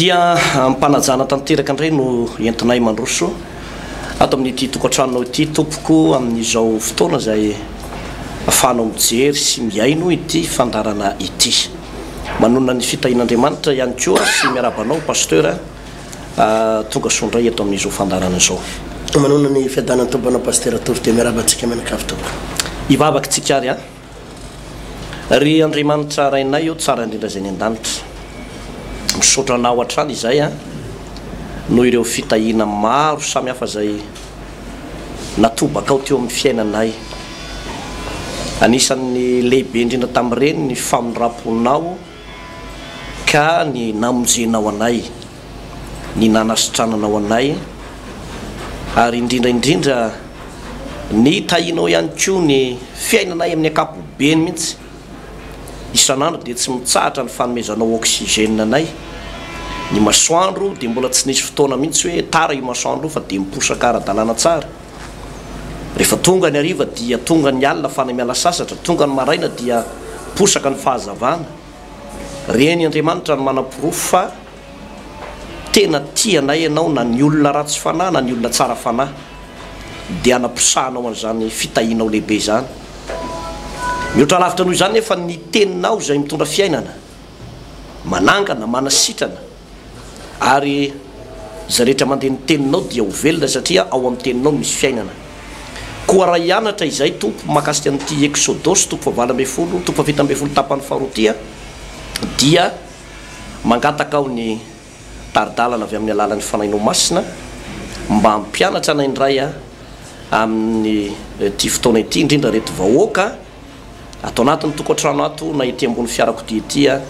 Dia amim-panajana tanteraka indray no entinay mandroso ato amin'ity tokantranonao ity tompoko amin'izao fotoana izay afahanao mijery sy mihaino ity fandaharana ity. Manonona ny fitahian'Andriamanitra ihany koa sy miarahaba anao Pasteur tonga soa indray eto amin'izao fandaharana izao. Manonona ny fiadanan'ny Tompo anao Pasteur Tovo dia miarahaba antsika mianakavy tompoko. Hivavaka isika ary a. Ry Andriamanitra Rainay ô tsara indrindra izay any an-danitra, misaotra Anao hatrany izay an, noho ireo fitahiana maro samy hafa izay natobakao teo amin'ny fiainanay. Anisan'ny lehibe indrindra tamin'ireny ny famindram-ponao ka ny namonjenao anay. ny nanasitrananao anay, ary indrindra indrindra ny tahianao ihany koa ny fiainanay amin'ny ankapobeny mihitsy. Isan'andro dia tsy mitsahatra ny fanomezanao oxygène anay. Ny masoandro dia mbola tsy nisy fotoana mihitsy hoe tara io masoandro io fa dia miposaka ara-dalàna tsara. Rehefa tonga ny hariva dia tonga ny alina fany miala sasatra, tonga ny maraina dia posaka ny fahazavana. Reny Andriamanitra no manaporofo fa tena tia anay ianao na ny olona ratsy fanahy na ny olona tsara fanahy dia anaposahanao an'izany fitahianao lehibe izany. Mihoatra lavitra noho izany nefa ny teninao izay mitondra fiainana, manangana, manasitrana, Ary izay rehetra mandeha ny teninao dia ho velona satria ao amin'ny teninao misy fiainana. Koa raha hianatra izay tompo mahakasika an'ity Eksodosy toko fahavalo ambin'ny folo, toko fahafito ambin'ny folo tapany faharoa ity aho dia mangataka aho ny tari-dalana avy amin'ny alalan'ny Fanahinao Masina mba hampianatra anay indray amin'ny ity fotoana ity indrindra ireto vahoaka Ato anatin'ny tokantrano ato na ety ambony fiarakodia ety aho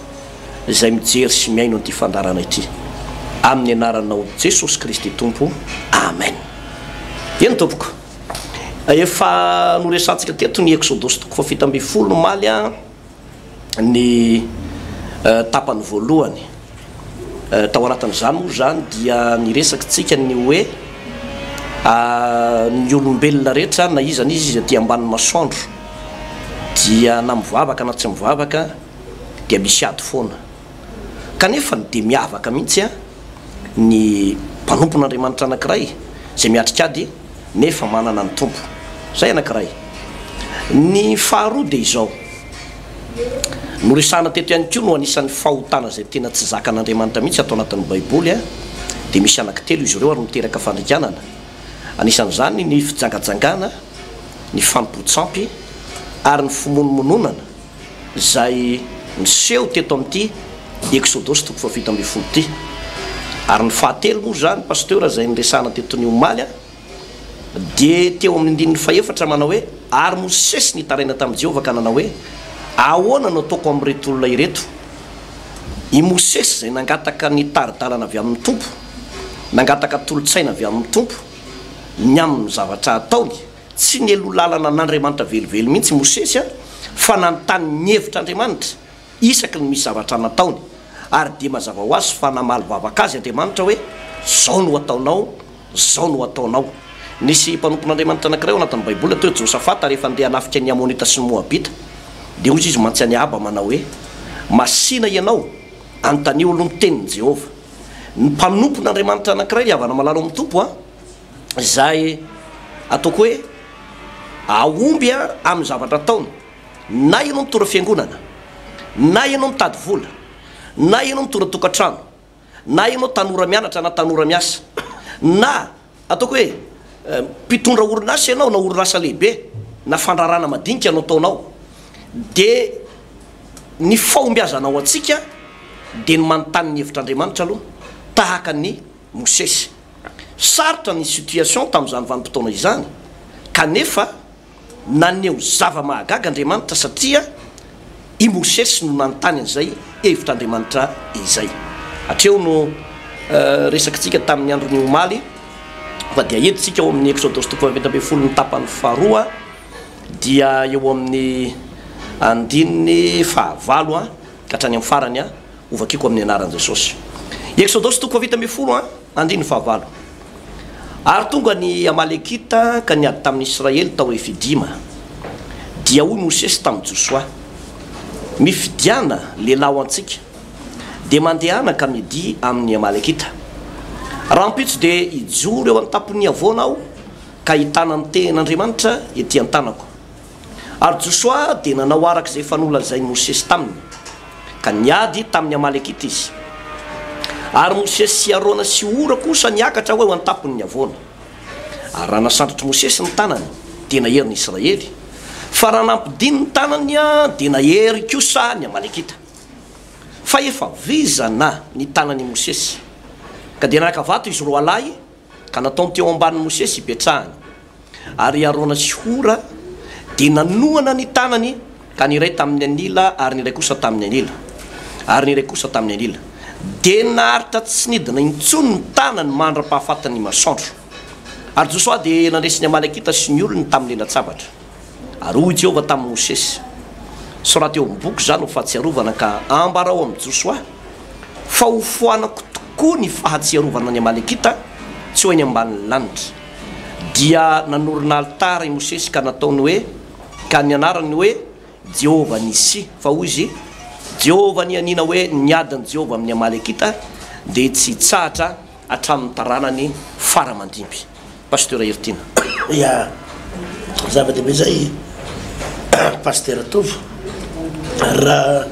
izay mijery sy mihaino an'ity fandaharana ity. Amin'ny anaranao Jesosy Kristy Tompo. Amen. Eny tompoko. Efa noresahantsika teto ny Eksodosy toko fahafito ambin'ny folo omaly ny tapany voalohany. Tao anatin'izany moa izany dia niresakitsika ny hoe ny olombelona rehetra na iza na iza izay aty ambanin'ny masoandro dia na mivavaka na tsy mivavaka dia misy ady foana. Kanefa dia miavaka mihitsy ny mpanompon'Andriamanitra anankiray izay miatrika ady nefa manana ny Tompo. Izay anankiray. Ny faharoa dia izao. Noresahana teto ihany koa no anisan'ny fahotana izay tena tsy zakan'Andriamanitra mihitsy ato anatin'ny baiboly dia misy anaky telo izy ireo ary miteraka fandringanana anisan'izany ny fijangajangana, ny fanompoan-tsampy ary ny fimonomononana izay niseho teto amin'ity Eksodosy toko fahafito ambin'ny folo ity. Ary ny fahatelo moa izany Pasteur izay niresahana teto ny omaly. Dia teo amin'ny andininy fahefatra manao hoe, Ary Mosesy nitaraina tamin'i Jehovah ka nanao hoe, Ahoana no ataoko amin'ireto olona ireto? I Mosesy izay nangataka ny tari-dalana avy amin'ny Tompo, nangataka tolo-tsaina avy amin'ny Tompo ny amin'ny zavatra hataony. Tsy nialoha lalana an'Andriamanitra velively mihitsy i Mosesy, fa nanontany ny hevitra Andriamanitra isaky ny misy zavatra nataony. Ary dia mazava ho azy fa namaly vavaka azy Andriamanitra hoe, Izao no hataonao. Izao no hataonao. Nisy mpanompon'Andriamanitra anankiray ao anatin'ny Baiboly atao hoe Josafata, rehefa handeha hanafika ny Amonita sy ny Moabita, dia hoy izy mantsy an'i Ahaba manao hoe, Masìna ianao, anontanio aloha ny tenin'i Jehovah. Ny mpanompon'Andriamanitra anankiray ry havana malala ao amin'ny Tompo a! izay ataoko hoe hahomby amin'ny zavatra ataony, na ianao mitondra fiangonana, na ianao mitady vola, na ianao mitondra tokantrano, na ianao tanora mianatra na tanora miasa, na ataoko hoe mpitondra orinasa ianao na orinasa lehibe na fandrarana madinika no ataonao dia ny fahombiazana ho antsika dia ny manontany ny hevitr'Andriamanitra aloha tahaka an'i Mosesy. Sarotra ny situation tamin'izany vanim-potoana izany kanefa Naneho zava-mahagaga Andriamanitra satria i Mosesy no nanontany an'izay hevitr'Andriamanitra izay. Hatreo no resakintsika tamin'ny andron'ny omaly fa dia entintsika ao amin'ny Eksodosy toko fahaefatra ambin'ny folo ny tapany faharoa dia eo amin'ny andininy fahavalo ka hatrany amin'ny farany. Ho vakiko amin'ny anaran'i Jesosy. Eksodosy toko fahavita ambin'ny folo an, andininy fahavalo Ary tonga ny Amalekita ka niady tamin'ny Israely tao Refidima. Dia hoy Mosesy tamin'i Josoa, Mifidiana lehilahy ho antsika, dia mandehana ka midia amin'ny Amalekita. Rahampitso dia hijoro eo an-tampon'ny havoana aho ka hitana ny tehin'Andriamanitra ety an-tanako. Ary Josoa dia nanao araka izay efa nolazain'i Mosesy taminy, ka niady tamin'ny Amalekita izy. Ary Mosesy sy Arona sy Hora kosa niakatra ho eo an-tampon'ny havoana. Ary raha nasandratr'i Mosesy ny tanany, dia nahery ny Israely, fa raha nampidiny ny tanany, dia nahery kosa ny Amalekita. Fa efa vizana ny tanan'i Mosesy, ka dia naka vato izy roalahy, Ka nataony teo ambanin'i Mosesy hipetrahany. Ary i Arona sy Hora dia nanohana ny tanany, ka ny iray tamin'ny anila, ary ny iray kosa tamin'ny anila, ary ny iray kosa tamin'ny anila. Dia naharitra tsy nidina intsony ny tanany mandra-pahafatin'ny masoandro. Ary Josoa dia nandresy ny Amalekita sy ny olony tamin'ny lalan-tsabatra. Ary hoy Jehovah tamin'i Mosesy, Soraty eo amin'ny boky izany ho fahatsiarovana ka ambarao amin'i Josoa fa hofoanako tokoa ny fahatsiarovana ny Amalekita tsy ho eny ambanin'ny lanitra. Dia nanorina alitara i Mosesy ka nataony hoe, ka nianarany hoe, Jehovah Nissi, fa hoy izy, Jehovah nianiana hoe ny adin'i Jehovah amin'ny Amalekita dia tsy hitsahatra hatramin'ny taranany fara aman-dimby. Pasteur Heritiana. Ya, zava-dehibe zay Pasteur Tovo, raha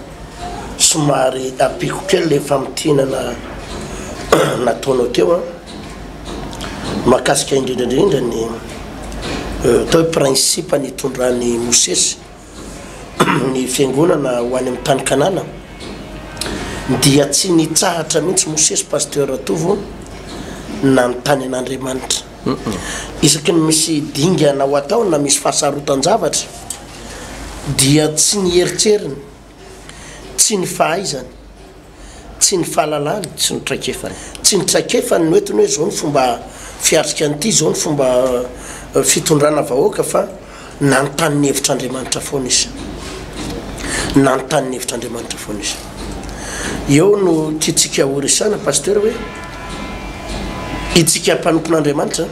somary ampiako kely le famintinana nataonao teo an, mahakasika indrindra indrindra ny atao hoe principe nitondran'i Mosesy, ny fiangonana ho any amin'ny tany Kanana dia tsy nitsahatra mihitsy Mosesy Pasteur Ratovo nanontany an'Andriamanitra. Isaky ny misy dingana ho atao na misy fahasarotan-javatra dia tsy ny heritreriny, tsy ny fahaizany, Tsy ny fahalalany, tsy ny traikefany. Tsy ny traikefany no entiny hoe izao ny fomba fiatrika an'ity, izao ny fomba fitondrana vahoaka fa nanontany ny hevitr'Andriamanitra foana izy. Nanontany ny hevitr'Andriamanitra foana izy. Eo no tiantsika horesahana Pasitera hoe itsika mpanompon'Andriamanitra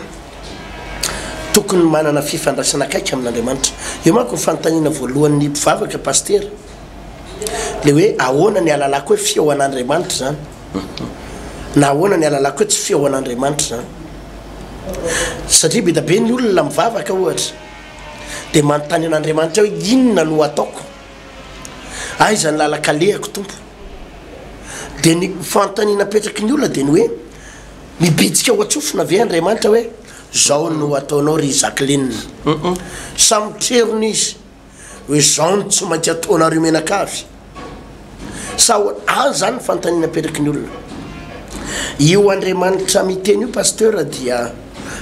tokony manana fifandraisana akaiky amin'Andriamanitra. Io manko ny fanontaniana voalohan'ny mpivavaka Pasitera. le hoe ahoana ny alalako hoe fihaonan'Andriamanitra zany na ahoana ny alalako hoe tsy fihaonan'Andriamanitra zany satria be da be ny olona mivavaka ohatra de manontany an'Andriamanitra hoe inona no ataoko aiza ny lalakalehako tompo de ny fanontaniana apetraky ny olona de ny hoe mibitsika ao an-tsofina ve Andriamanitra hoe zao no ataonao ry Jacqueline samy trerony izy hoe izao no tsy maintsy ataonareo mianakavy sa ho any zany ny fanontaniana apetraky ny olona io andriamanitra miteny io pasteur dia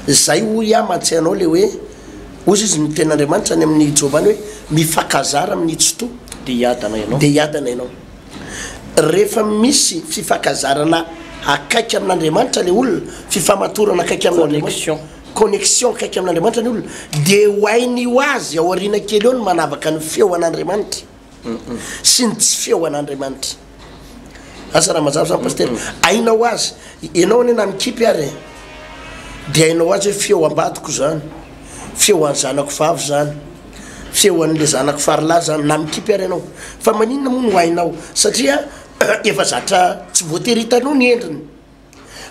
zay hoy aho mahatsiahy anao le hoe ozy izy ny tenin'andriamanitra any amin'ny joba any hoe mifakazara amin'ny tsitoa de hiadana ianao de hiadana ianao rehefa misy fifakazarana akaiky amin'andriamanitra le olona fifamatorana akaiky amin'andriamanitra connexion akaiky amin'Andriamanitra ny olona dia ho hainy ho azy ao aoriana kely eo ny manavaka ny feo an'Andriamanitra sy ny tsy feo an'Andriamanitra. Asa raha mazava zany Pasitera? Haina ho azy. Ianao anie na mikipy ary e, dia hainao ho azy hoe feo ambadiko zany, feo an'ny zanako vavy zany, feo an'ilay zanako farilahy zany, na mikipy ary ianao. Fa maninona moa no hainao? Satria efa zatra tsy voatery hitanao ny endriny.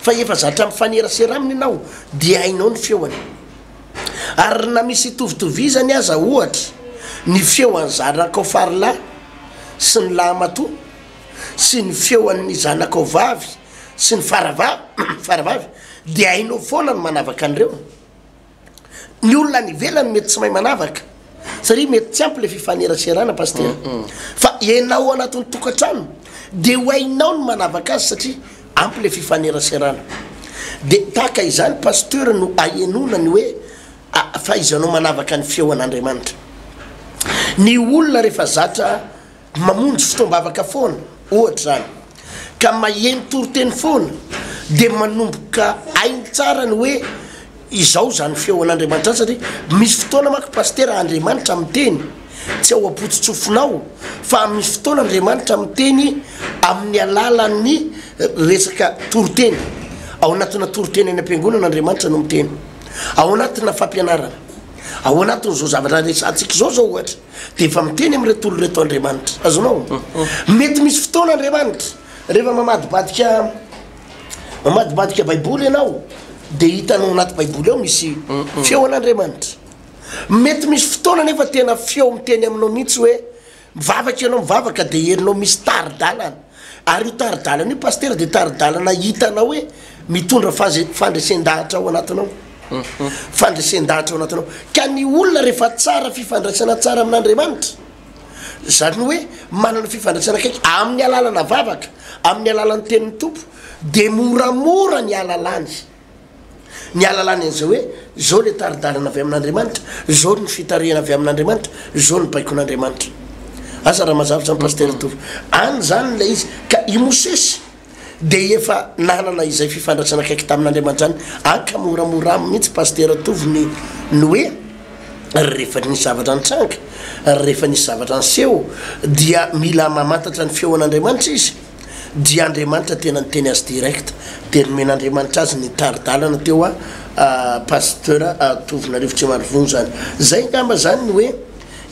fa efa zatra mifanerasera aminy ianao dia hainao ny feony. Ary na misy hitovitovizany aza ohatra ny feo an'i zanakao farilahy sy ny lahimatoa sy ny feo an'ny zanakao vavy sy ny faravavy dia hainao foana ny manavaka an'ireo. Ny olona any ivelany mety tsy mahay manavaka satria mety tsy ampy le fifaneraserana pasteur. Fa ianao anatin'ny tokantrano dia ho hainao ny manavaka azy satria ampy le fifaneraserana. Dia tahaka izany pasteur no ahenoana ny hoe fahaizanao manavaka ny feon'Andriamanitra. Ny olona rehefa zatra Mamonjy fotoam-bavaka foana, ohatra izany, ka maheno toriteny foana, dia manomboka hainy tsara ny hoe izao izany feo an'Andriamanitra izany, satria misy fotoana manko Pasitera Andriamanitra miteny, tsy ao am-potso-tsofinao, fa misy fotoana Andriamanitra miteny amin'ny alalan'ny resaka toriteny. Ao anatina toriteny any am-piangonana Andriamanitra no miteny, ao anatina fampianarana, ao anatin'izao zavatra resahantsika izao izao ohatra. dia efa miteny amin'ireto olona ireto Andriamanitra. Azonao? Mety misy fotoana Andriamanitra, rehefa mamadibadika mamadibadika Baiboly ianao, dia hitanao anaty Baiboly ao misy feo an'Andriamanitra. Mety misy fotoana anefa tena feo miteny aminao mihitsy hoe mivavaka ianao mivavaka dia herinao misy tari-dalana. Ary io tari-dalana io Pasitera dia tari-dalana hitanao hoe mitondra fandresen-dahatra ao anatinao. Fandresen-dahatra ao anatinao. Ka ny olona rehefa tsara fifandraisana tsara amin'Andriamanitra, izany hoe manana fifandraisana akaiky amin'ny alalana vavaka, amin'ny alalan'ny tenin'ny Tompo, dia moramora ny hahalalany. Ny alalany an'izay hoe, izao ilay tari-dalana avy amin'Andriamanitra, izao ny fitarihana avy amin'Andriamanitra, izao ny baikon'Andriamanitra. Asa raha mazava izany Pasitera Tovo. Any izany ilay izy. Ka i Mosesy dia efa nanana izay fifandraisana akaiky tamin'Andriamanitra izany. Any ka moramora aminy mihitsy Pasitera Tovo ny ny hoe, rehefa nisy zavatra nitranga, rehefa nisy zavatra niseho dia mila mamantatra ny feon'Andriamanitra izy. dia Andriamanitra tena niteny azy direct dia nomen'Andriamanitra azy ny tari-dalana teo a Pasteur Tovonarivo tsy marivony zany zay ngamba zany ny hoe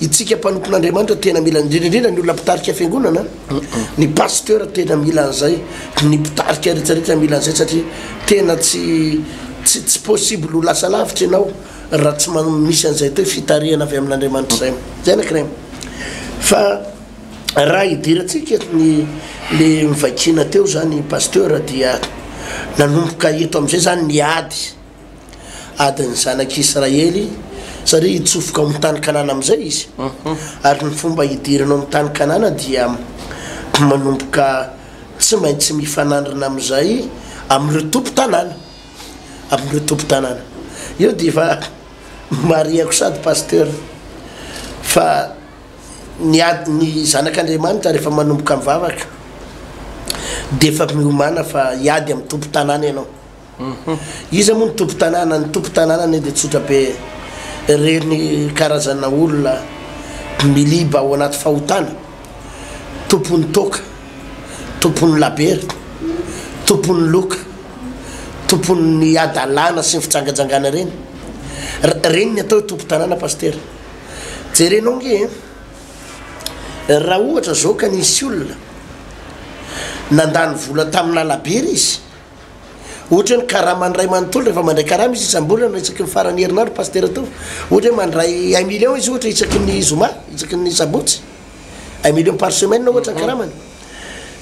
itsika mpanompon'Andriamanitra tena mila indrindra indrindra ny olona mpitarika fiangonana ny Pasteur tena mila an'izay ny mpitarika rehetra rehetra mila an'izay satria tena tsy tsy tsy possible ho lasa lavitra ianao raha tsy manao misy an'izay atao hoe fitarihana avy amin'Andriamanitra izay zay anakirayy fa Raha hidirantsika ny le mivaikina teo zany Pasteur dia nanomboka eto amizay zany ny ady, adin'ny zanak'i Israely satria hitsofoka ao amin'ny tany Kanana amizay izy, ary ny fomba hidirana ao amin'ny tany Kanana dia manomboka tsy maintsy mifanandrina amizay amin'ireo tompon-tanàna, amin'ireo tompon-tanàna. Eo dia efa marihako sady Pasteur fa. Ny ady ny zanak'Andriamanitra rehefa manomboka mivavaka dia efa miomana fa hiady amin'ny tompon-tanàna ianao. Iza moa ny tompon-tanàna? Ny tompon-tanàna anie dia tsotra be, ireny karazana olona miliba ao anaty fahotana, tompon'ny toaka, tompon'ny laberty, tompon'ny loka, tompon'ny hadalana sy ny fijangajangana ireny. Ireny ny atao hoe tompon-tanàna Pasitera. Jerenao nge eh, raha ohatra zao ka nisy olona nandany vola tamina labera izy, ohatra hoe ny karamany ray manontolo rehefa mandray karama izy isam-bolana isaky ny faran'ny herinandro pasitera tao, ohatra hoe mandray un million izy ohatra isaky ny zoma, isaky ny sabotsy, un million par semaine ohatra ny karamany,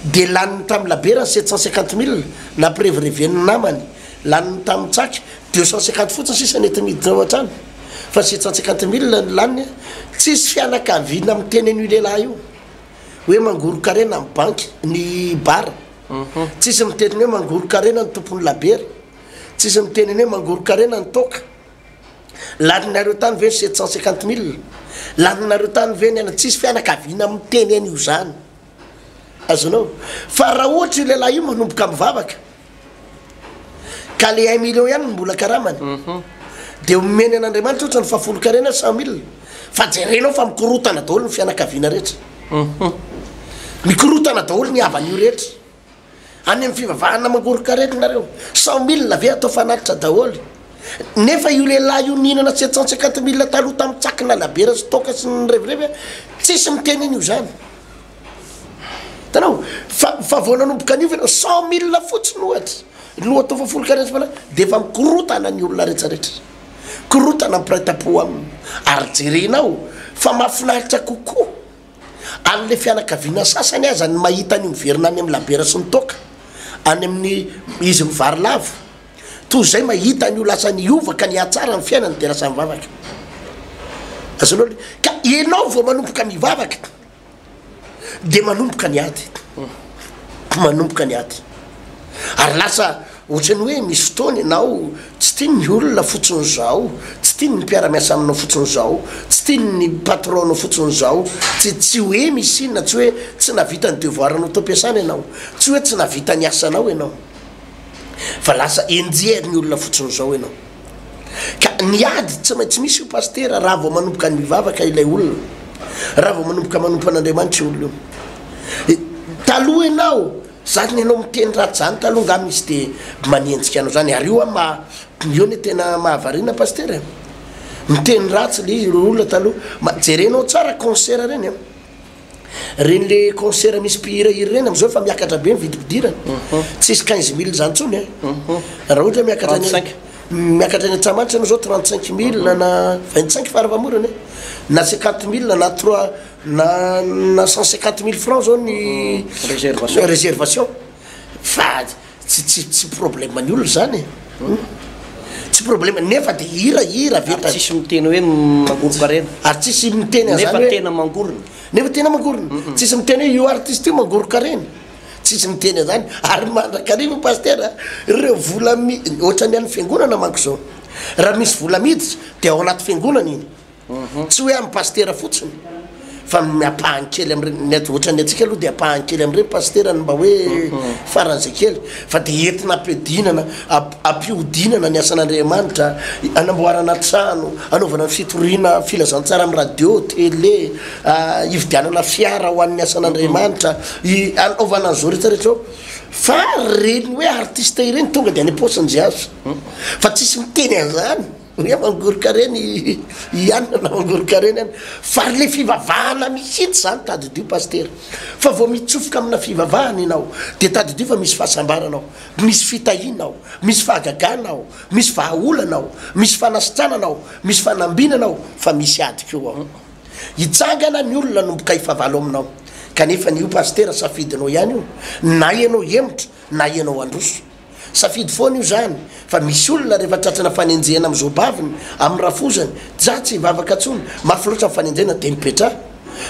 dia laniny tamin'ny labera ny sept cent cinquante mille nampirevireven'ny namany, laniny tamin'ny tsaka deux cent cinquante fotsiny sisa nety niditra ao an-trano. fa sept cent cinquante mille no laniny a, tsisy fianakaviana miteny an'io lehilahy io hoe mangoron-karena amin'ny banky ny bar, tsisy miteny ny hoe mangoron-karena ny tompon'ny labiera, tsisy miteny ny hoe mangoron-karena ny toaka, laninareo tany ve ny sept cent cinquante mille, laninareo tany ve ny anona, tsisy fianakaviana miteny an'io izany, azonao? fa raha ohatra io lehilahy io manomboka mivavaka. Ka le un million ihany no mbola karamany de omeny an'Andriamanitra ohatra ny fahafolonkarena cent mille fa jerenao fa mikorotana daholo ny fianakaviana rehetra mikorotana daholo ny havan'io rehetra any amin'ny fivavahana mangoron-karena nareo cent mille ve atao fanatitra daholo nefa io lehilahy io nihinana sept cent cinquante mille taloha tamin'ny tsaky nalabiera sy toaka sy ny revirevy tsisy miteny an'io zany Hitanao? Fa, fa vao nanomboka niova ianao, cent mille fotsiny ohatra, no atao fa folo karetsaka maraina, dia efa mikorotana ny olona rehetra rehetra. Korotana ny mpiray tampo aminy. Ary jerenao, fa mahafinaritra kokoa an'ilay fianakaviana sasany aza ny mahita an'io miverina any amin'ny labiera sy ny toaka, any amin'ny izy mivary lavo, toy izay mahita an'io lasa niova ka nihatsara ny fiainany dia lasa mivavaka. Azonao le. Ka ianao vao manomboka mivavaka. dia manomboka ny ady, manomboka ny ady, ary lasa ohatran'ny hoe misy fotoana ianao tsy tiany ny olona fotsiny izao, tsy tiany ny mpiara-miasa aminao fotsiny izao, tsy tiany ny patron-nao fotsiny izao, tsy tsy hoe misy inona, tsy hoe tsy nahavita ny devoir-nao tao am-piasana ianao, tsy hoe tsy nahavita ny asanao ianao, fa lasa enjehin'ny olona fotsiny izao ianao. Ka ny ady tsy maintsy misy io Pasitera raha vao manomboka mivavaka ilay olona, raha vao manomboka manompo an'Andriamanitra io olona io. Taloha ianao, zany ianao miteny ratsy zany taloha angaha misy de manenjika anao zany, ary io an maha, io le tena mahavariana Pasitera e, miteny ratsy le olona taloha, ma jerenao tsara concert reny an, Reny le concert misy mpihira hira reny amizao efa miakatra be ny vidim-pidirana. Tsisy quinze mille zany tsony eh. Raha ohatra hoe miakatra any Trente-cinq. miakatra any Antsahamanitra enao zao trente cinq mille na vingt cinq fara famorana eh. Na cinquante mille na trois na na cent cinquante mille francs zao ny Réservation. réservation. Fa. Tsy tsy tsy problème ny olona izany e! Humm! Tsy problème nefa dia hira hira avy eto. Ary tsisy miteny hoe mangorokarena. Ary tsisy miteny an'izany hoe. Nefa tena mangorona. Nefa tena mangorona. Tsisy miteny hoe io artiste io mangorokarena. Tsisy miteny an'izany. Ary mandrakariva Pasteur a! Ireo vola mi, ohatran'ny an'ny fiangonana manko izao. Raha misy vola miditra dia ao anaty fiangonana iny. Tsy hoe amin'ny pasitera fotsiny fa ny ampahany kely amin'ireny, ny aty ohatran'ny antsika aloha dia ampahany kely amin'ireny pasitera ny mba hoe faran'izay kely fa dia entina ampihodinana, ampihodinana ny asan'Andriamanitra, hanamboarana trano, hanaovana ny fitoriana filazantsara amin'ny radio, tele, hividianana fiara ho an'ny asan'Andriamanitra, hanaovana an'izao rehetra rehetra izao fa ireny hoe artiste ireny tonga dia any am-paosin'i Jiazy fa tsisy miteny an'izany. Ny aman-goron-karena hianina na aman-goron-karena hianina. Fa le fivavahana mihitsy zany tadidio Pasitera. Fa vao mitsofoka amina fivavahana ianao dia tadidio fa misy fahasambarana ao, misy fitahiana ao, misy fahagagana ao, misy vahaolana ao, misy fanasitranana ao, misy fanambinana ao fa misy ady koa ao. Hitsangana ny olona hanomboka hifavalo aminao. Kanefa ny io Pasitera safidinao ihany io, na ianao hemotra na ianao handroso. Safidy foana io zany fa misy olona rehefa tratrana fanenjehana am zo baviny am rafozany dza tsy hivavaka tsony mafy loatra ny fanenjehana de mipetra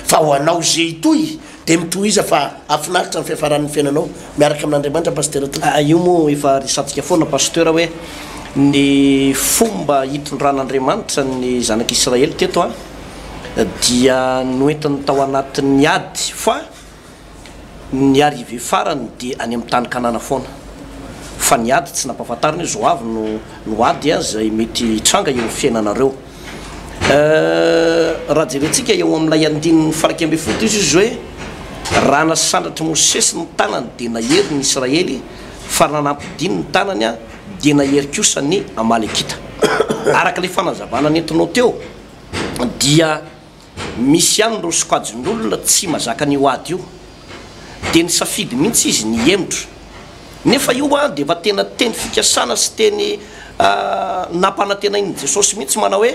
fa ho anao ze hitohy de mitohiza fa afinaritra ny fiafaran ny fiainanao miaraka amin Andriamanitra Pasitera tompoko. Aa io moa efa resatsika foana Pasteur hoe ny fomba hitondran Andriamanitra ny zanak Israely teto a dia noentiny tao anatin ny ady fa Ny arrivée farany dia any amin'ny tany Kanana foana. Fa ny ady tsy nampahafantarina hoe zao avy no no ady a izay mety hitranga eo amin'ny fiainanareo. Euh raha jerentsika eo amin'ilay andininy faraika ambin'ny folo dia hoy Jesosy hoe raha nasandratr'i Mosesy ny tanany dia nahery ny Israely fa raha nampidiny ny tanany a dia nahery kosa ny Amalekita. Araka ilay fanazavana nentinao teo dia Misy ihany ireo sokajin'olona tsy mazaka an'io ady io, dia nisafidy mihitsy izy ny hihemotra. Nefa io dia efa tena teny fikasana sy teny nampanantenain'i Jesosy mihitsy manao hoe,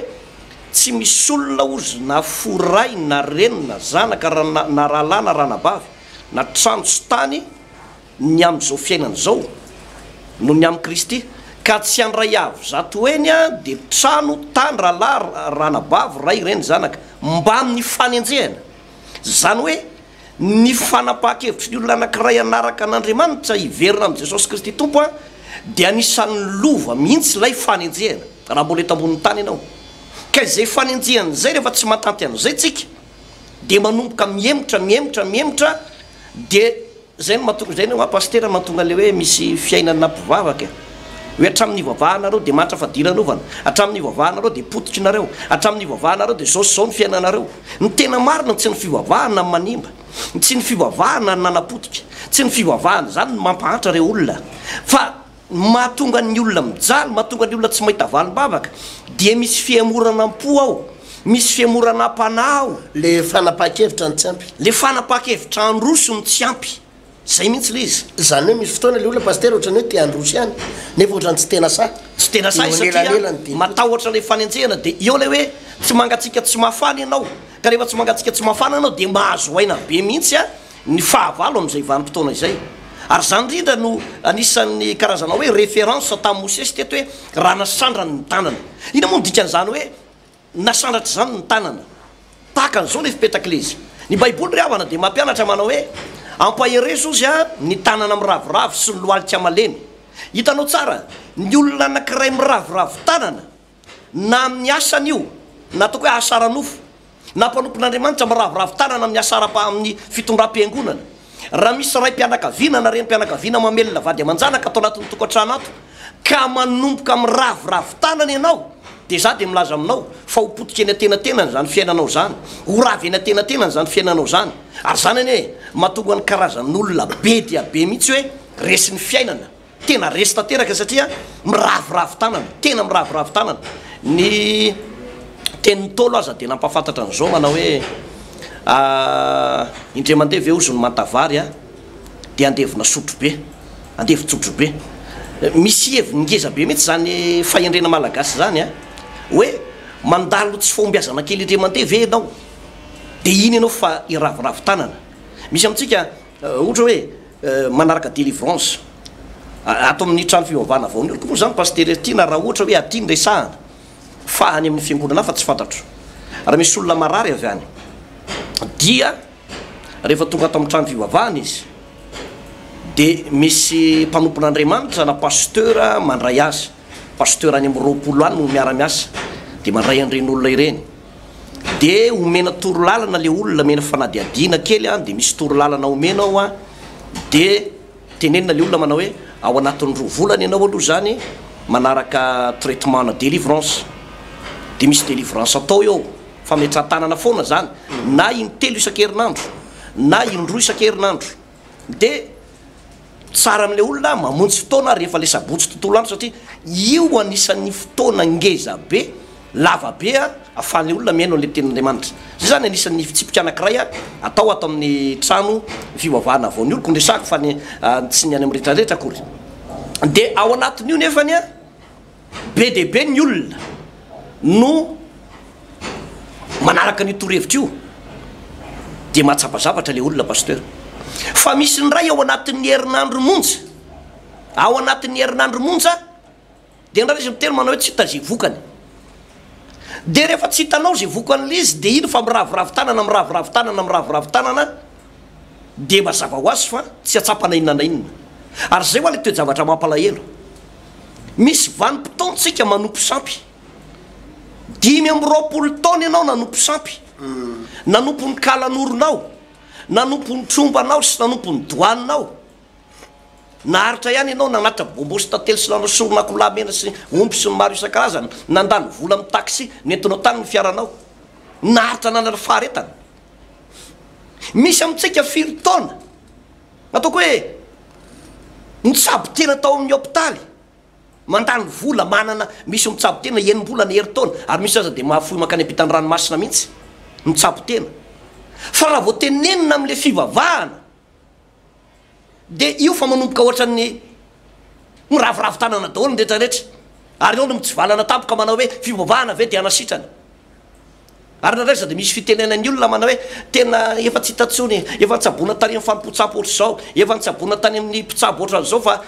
Tsy misy olona ozy na fo ray na reny na zanaka na rahalahy na ranabavy na trano sy tany ny amin'izao fiainana izao noho ny amin'i Kristy, ka tsy handray avo zato heny dia trano, tany, rahalahy, ranabavy, ray, reny, zanaka, mbamin'ny fanenjehana. Izany hoe, ny fanapahan-kevitry ny olona anankiray hanaraka an'Andriamanitra, hiverina amin'i Jesosy Kristy Tompo, dia anisan'ny lova mihitsy ilay fanenjehana, raha mbola eto ambonin'ny tany ianao. Ka izay fanenjehana izay, rehefa tsy mahatanty an'izay tsika, dia manomboka mihemotra, mihemotra, mihemotra, dia. Zay no mahatonga, zay no hoa Pasitera mahatonga le hoe misy fiainana mpivavaka e! Hoe hatramin'ny ivavahanareo dia mahantra fadiranovana, hatramin'ny ivavahanareo dia pototry nareo, hatramin'ny ivavahanareo dia zao sy zao ny fiainanareo. Ny tena marina tsy ny fivavahana no manimba, tsy ny fivavahana no nanapotika, tsy ny fivavahana izany no mampahantra reo olona fa. Ny mahatonga ny olona mijaly, mahatonga ny olona tsy mahita valim-bavaka dia misy fihemoranam-po ao, misy fihemoranam-panahy ao. Le fanapahan-kevitra no tsy ampy. Le fanapahan-kevitra handroso no tsy ampy. Zay mihitsy le izy. Zany hoe misy fotoana le olona Pasitera ohatrany hoe te handroso ihany nefa ohatrany tsy tena sahy. Tsy tena sahy satria matahotra le fanenjehana de eo le hoe tsy mangatsiaka tsy mafana ianao, ka rehefa tsy mangatsiaka tsy mafana ianao de mahazo aina be mihitsy an! ny fahavalo amin'izay vanim-potoana izay. Ary izany indrindra no anisan'ny karazana hoe référence tamin'i Mosesy teto hoe raha nasandrany ny tanana. Inona moa no dikan'izany hoe nasandratra izany ny tanana? Tahaka an'izao ilay fipetak'ilaizy. Ny Baiboly ry havana dia mampianatra manao hoe ampaherezo ozy ny tanana miraviravy sy ny lohalika malemy. Hitanao tsara, ny olona anankiray miraviravy tanana, na amin'ny asany io, na ataoko hoe asa ara-nofo, na mpanompon'Andriamanitra miraviravy tanana amin'ny asa ara-, amin'ny fitondram-piangonana. Raha misy raim-pianakaviana na renim-pianakaviana mamelona vady aman-janaka ato anatin'ny tokantrano ato, ka manomboka miraviravy tanana ianao, dia izaho dia milaza aminao fa ho potika eny an-tenatenany izany fiainanao izany, ho ravy eny an-tenatenany izany fiainanao izany. Ary izany anie mahatonga ny karazan'olona be dia be mihitsy hoe resin'ny fiainana. Tena resy tanteraka satria miraviravy tanana, tena miraviravy tanana. Ny tenin'ny Ntaolo aza dia nampahafantatra an'izao manao hoe indray mandeha ve hozy ny manta-vary a, dia andevona sotrobe, andevon-tsotrobe. Misy heviny ngeza be mihitsy izany fahendrena malagasy izany a, hoe mandalo tsy fahombiazana kely indray mandeha ve ianao, dia iny ianao fa hiraviravy tanana. Misy amintsika ohatra hoe. manaraka delivrance ato amin'ny trano fivavahana vao nioriko moa zany pasitera ity na raha ohatra hoe aty ny resahana fa any amin'ny fiangonana hafa tsy fantatro raha misy olona marary avy any dia rehefa tonga ato amin'ny trano fivavahana izy dia misy mpanompon'andriamanitra na pasitera mandray azy pasitera any amin'ny roapolo any no miara-miasa dia mandray an'ireny olona ireny dia omena torolalana le olona omena fanadihadiana kely an dia misy torolalana omena ao an dia tenenina le olona manao hoe ao anatin'ny roa volana ianao aloha izany manaraka traitement na delivrance dia misy delivrance atao eo fametran-tanana foana izany na intelo isan-kerinandro na indroa isan-kerinandro De tsara amle olona mamonjy fotoana rehefa le sabotsy tontolo andro satria io anisan'ny fotoana ngeza be, lava be a, afahan'le olona mihaino an'le tenin'Andriamanitra. Zay zany anisan'ny fitsipika anakiray a atao ato amin'ny trano fivavahana vao ny oloko no resahako fa ny tsy ny any amin'ny retraretra akory. De ao anatin'io nefany a. Be dia be ny olona no manaraka an'io torohevitra io dia mahatsapa zavatra ilay olona Pasteur. Fa misy ny iray ao anatin'ny herinandro monja, ao anatin'ny herinandro monja dia indraindray izy miteny manao hoe tsy hita izay vokany. Dia rehefa tsy hitanao izay vokan'ilay izy dia iny fa miraviravy tanana, miraviravy tanana, miraviravy tanana. dia mazava ho azy fa tsy hahatsapa na inona na inona. Ary izay ho'a lay toe-javatra mampalahelo. Misy vanim-potoantsika manompo sampy. Dimy amby roapolo taona ianao nanompo sampy. Nanompo ny kalanoronao, nanompo ny trombanao sy nanompo ny doaninao. Naharitra ihany ianao nanatitra bonbons sy tantely sy nanao soron'akoho lahy mena sy omby sy ny maro isan-karazany, nandany vola amin'ny taxi nentinao tany ny fiaranao. Naharitra nanana faharetana. Misy amintsika firy taona, ataoko hoe nitsabo tena tao amin'ny hopitaly, mandany vola, manana, misy mitsabo tena enim-bolana, herintaona, ary misy aza dia mahafoy mankany am-pitan'ny ranomasina mihitsy, mitsabo tena. Fa raha vao tenenina amin'ilay fivavahana, dia io fa manomboka ohatran'ny miraviravy tanana daholo ny rehetra rehetra ary eo no mitsivalana tampoka manao hoe fivavahana ve dia anasitrana ary nareo izao dia misy fitenena ny olona manao hoe tena efa tsy hita tsony efa nitsabona tany amin'ny fanompoan-tsampy ohatr'izao efa nitsabona tany amin'ny mpitsabo ohatran'izao fa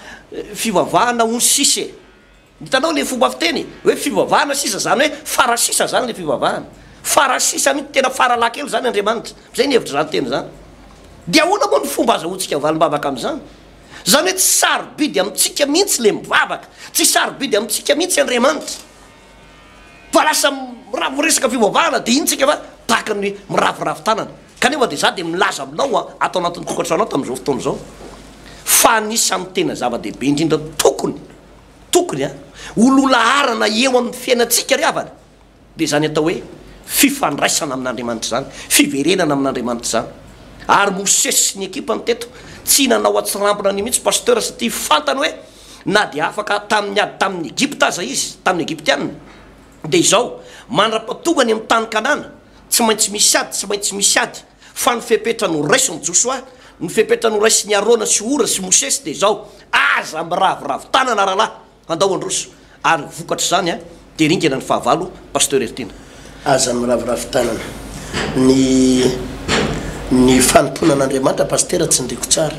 fivavahana ony sisa e Hitanao le fomba fiteny hoe fivavahana sisa zany hoe fara sisa zany le fivavahana fara sisa mintsy tena fara laha kely zany Andriamanitra zay ny hevitry zany teny zany de ahoana moa ny fomba azahoantsika valim-bavaka amizany zany hoe tsy sarobidy amintsika mintsy le mivavaka tsy sarobidy amintsika mintsy Andriamanitra fa lasa raha miresaka fivavahana de iny tsika fa tahaka ny miraviravy tanana kanefa de za de milaza aminao a ato anatin'ny tokantranonao tamin'izao fotoana izao fa anisan'ny tena zava-dehibe indrindra tokony Tokony a, ho lolaharana eo amin'ny fiainantsika ry havana, dia izany atao hoe fifandraisana amin'Andriamanitra izany, fiverenana amin'Andriamanitra izany. Ary Mosesy sy ny ekipany teto, tsy nanao an-tsirambina an'io mihitsy Pasteur satria fantany hoe na dia afaka tamin'ny ady tamin'ny Egypta aza izy, tamin'ny Egyptiana, dia izao, mandra-pahatonga any amin'ny tany Kanana, tsy maintsy misy ady, tsy maintsy misy ady. Fa ny fepetra noraisin'i Josoa, ny fepetra noraisin'i Arona sy Hora sy Mosesy dia izao, Aza miraviravy tanana rahalahy, handao handroso. Ary ny vokatr'izany dia ringana ny fahavalo, Pasteur Heritiana. Aza miraviravy tanana. Ny ny fanompoana an'Andriamanitra Pasitera tsindriako tsara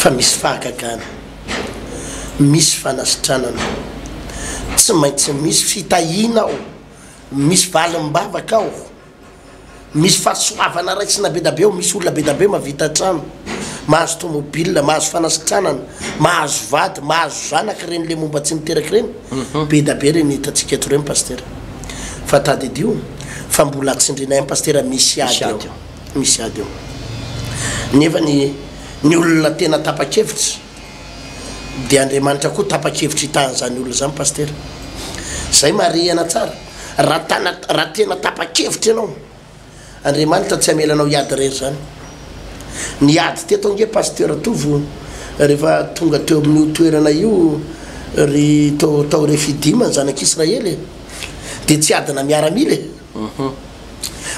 fa misy fahagagana, misy fanasitranana, tsy maintsy misy fitahiana ao, misy valim-bavaka ao, misy fahasoavana raisina be da be ao, misy olona be da be mahavita trano, mahazo tomobil, mahazo fanasitranana, mahazo vady, mahazo zanaka ireny le momba tsy niteraka ireny, be da be ireny hitantsika eto ireny Pasitera. Fa tadidio fa mbola tsindrinay any Pasitera misy ady ao, misy ady ao. Nefa ny ny olona tena tapa-kevitra dia Andriamanitra koa tapa-kevitra hitaha an'izany olona izany Pasitera. Zay marihana tsara. Raha tana, raha tena tapa-kevitra ianao, Andriamanitra tsy hamela anao hiady irery izany. Niady teto ange Pasteur Tovo rehefa tonga teo amin'io toerana io ry tao, tao Refidim ny zanak'Israely e. Dia tsy adina miaramila e.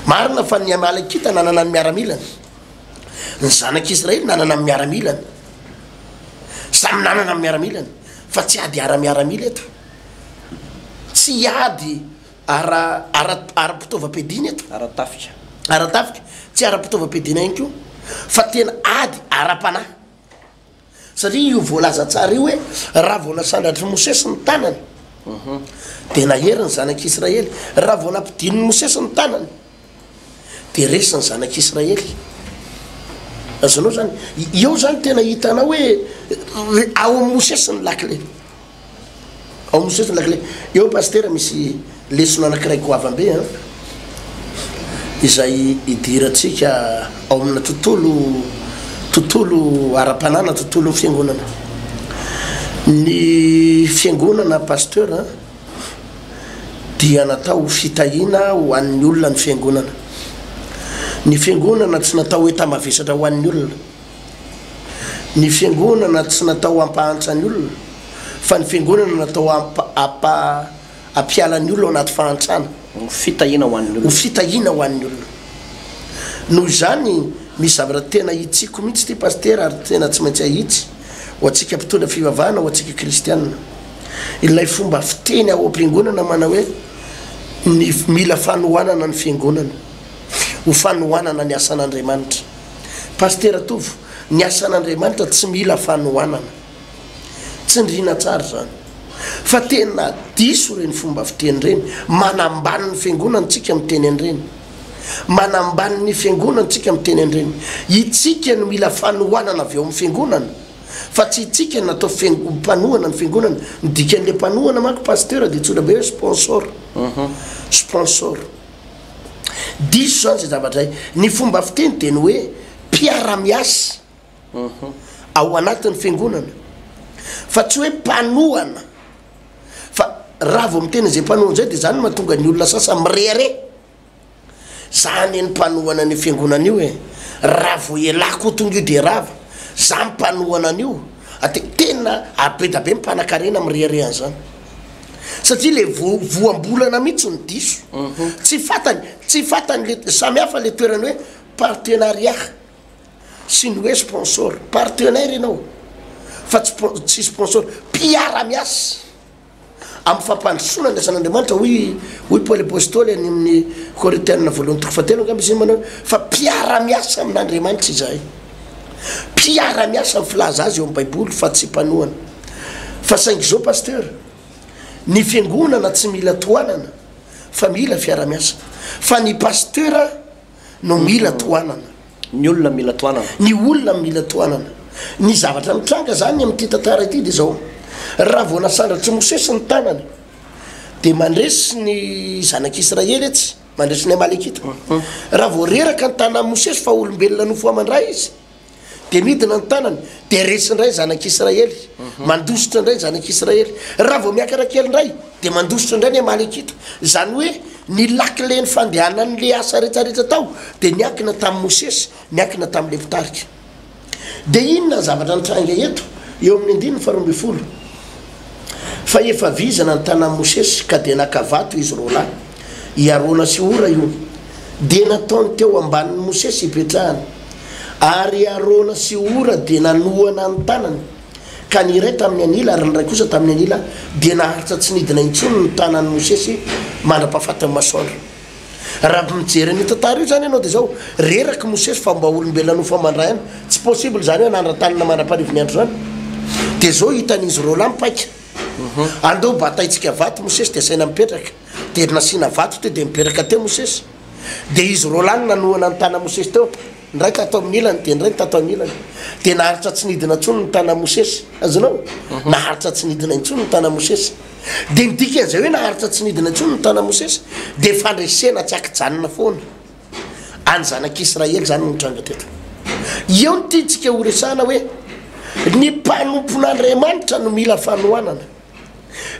Marina fa ny Amalekita nanana ny miaramilany. Ny zanak'Israely nanana ny miaramilany. Samy nanana ny miaramilany. Fa tsy ady ara-miaramila eto. Tsy hiady ara, ara, ara-pitaovam-piadiana eto. Ara-tafika. Ara-tafika, tsy ara-pitaovam-piadiana ihany koa, fa tena ady ara-panahy. Satria io voalaza tsara io hoe, Raha vao nasandratr'i Mosesy ny tanany, dia nahery ny zanak'Israely. Raha vao nampidinin'i Mosesy ny tanany. dia resy ny zanak'i Israely. Azonao zany, eo zany tena hitanao hoe eh, ao amin'ny Mosesy ny lakile. Ao amin'ny Mosesy ny lakile. Eo pasitera misy lesona anankiray goavambe an. Eh. Izay idirantsika ao amina tontolo tontolo ara-panana, tontolo fiangonana. Ny fiangonana pasteur an. Eh. dia natao ho fitahiana ho an'ny olona ny Fiangonana. Ny Fiangonana tsy natao hoe tambavesatra ho an'ny olona. Ny Fiangonana tsy natao hampahantra ny olona, fa ny Fiangonana natao hampa, hampiala ny olona ao anaty fahantrana. Ho fitahiana ho an'ny olona. Ho fitahiana ho an'ny olona. Noho izany, misy zavatra tena hitsiko mihitsy ity Pasitera ary tena tsy maintsy ahitsy, ho antsika mpitondra fivavahana, ho antsika Kristiana. ilay fomba fiteny ao am-piangonana manao hoe ny mila fanohanana ny fiangonana ho fanohanana ny asan'Andriamanitra. Pasitera Tovo, ny asan'Andriamanitra tsy mila fanohanana. Tsindriana tsara izany. Fa tena diso ireny fomba fiteny ireny. Manambany ny fiangonana tsika miteny an'ireny. Manambany ny fiangonana tsika miteny an'ireny. Itsika no mila fanohanana avy ao amin'ny fiangonana. fa tsy itsika no atao mpanohana ny fiangonana, ny dikan'ilay mpanohana manko pasteur dia antsoina be hoe sponsor, sponsor. Diso izany izay zavatra izay. Ny fomba fiteny dia ny hoe mpiara-miasa ao anatin'ny fiangonana, fa tsy hoe mpanohana, fa raha vao miteny an'izay mpanohana izay dia izany no mahatonga ny olona sasany mirehareha. Za anie ny mpanohana an'io fiangonana io e! Raha vao ialahy koa tonga io dia rava! Za mpanohana an'io! Ate, tena abeda be ny mpanakarena mirehareha an'izany! Satria le vo, voambolana mihitsy no diso! Tsy fantany, tsy fantany le, samy hafa le toerany hoe partenariat sy ny hoe sponsor! Partenaire ianao fa tsy, tsy sponsor! Mpiara-miasa! Amin'ny fampandrosoana ny asan'Andriamanitra, hoy hoy Paoly Apostoly any amin'ny Korintiana voalohany toko fahatelo angamba izy iny manao fa mpiara-miasa amin'Andriamanitra izahay. Mpiara-miasa ny filaza azy eo amin'ny Baiboly fa tsy mpanohana. Fa saingy izao Pasteur, ny fiangonana tsy mila tohanana fa mila fiara-miasa. Fa ny Pasteur no mila tohanana. Ny olona mila tohanana. Ny olona mila tohanana. Ny zavatra nitranga izany amin'ity tantara ity dia izao, raha vao nasandratr'i Mosesy ny tanany, dia mandresy ny zanak'Israely etsy, mandresy ny Amalekita. Raha vao reraka ny tanan'i Mosesy fa olombelona nofoaman-dra izy, Dia midina ny tanany, dia resy indray ny zanak'i Israely, mandositra indray ny zanak'i Israely. Raha vao miakatra kely indray, dia mandositra indray ny Amalekita. Izany hoe ny lakilen'ny fandehanan'ilay asa rehetra rehetra tao dia niankina tamin'i Mosesy, niankina tamin'ilay mpitarika. Dia inona ny zavatra nitranga eto, eo amin'ny andininy faharoa ambin'ny folo? Fa efa vizana ny tanan'i Mosesy, ka dia naka vato izy roa lahy, i Arona sy Hora io, dia nataony teo ambanin'i Mosesy hipetrahany. Ary i Arona sy Hora dia nanohana ny tanany, ka ny iray tamin'ny anila ary ny iray kosa tamin'ny anila, dia naharitra tsy nidina intsony ny tanan'i Mosesy mandra-pahafatin'ny masoandro. Raha mijery an'io tantara io zany ianao dia izao, reraky Mosesy fa mba olombelona nofamandra ihany, tsy possible izany hoe hanandra-tanana mandra-parivo ny andro izany. Dia izao hitan'izy roalahy mipaika, andao bataintsika vato Mosesy dia asaina mipetraka, dia nasiana vato teo dia nipetraka teo Mosesy, dia izy roalahy no nanohana ny tana Mosesy teo, Indray tato amin'ny ilany, dia indray ny tato amin'ny ilany. Dia naharitra tsy nidina intsony ny tanan'i Mosesy. Azonao? Mhm. Naharitra tsy nidina intsony ny tanan'i Mosesy. Dia ny dikan'izay hoe naharitra tsy nidina intsony ny tanan'i Mosesy, dia fandresena tsy ankijanona foana. Any zanak'Israely izany no nitranga teto. Eo ny tiantsika horesahana hoe ny mpanompon'Andriamanitra no mila fanohanana.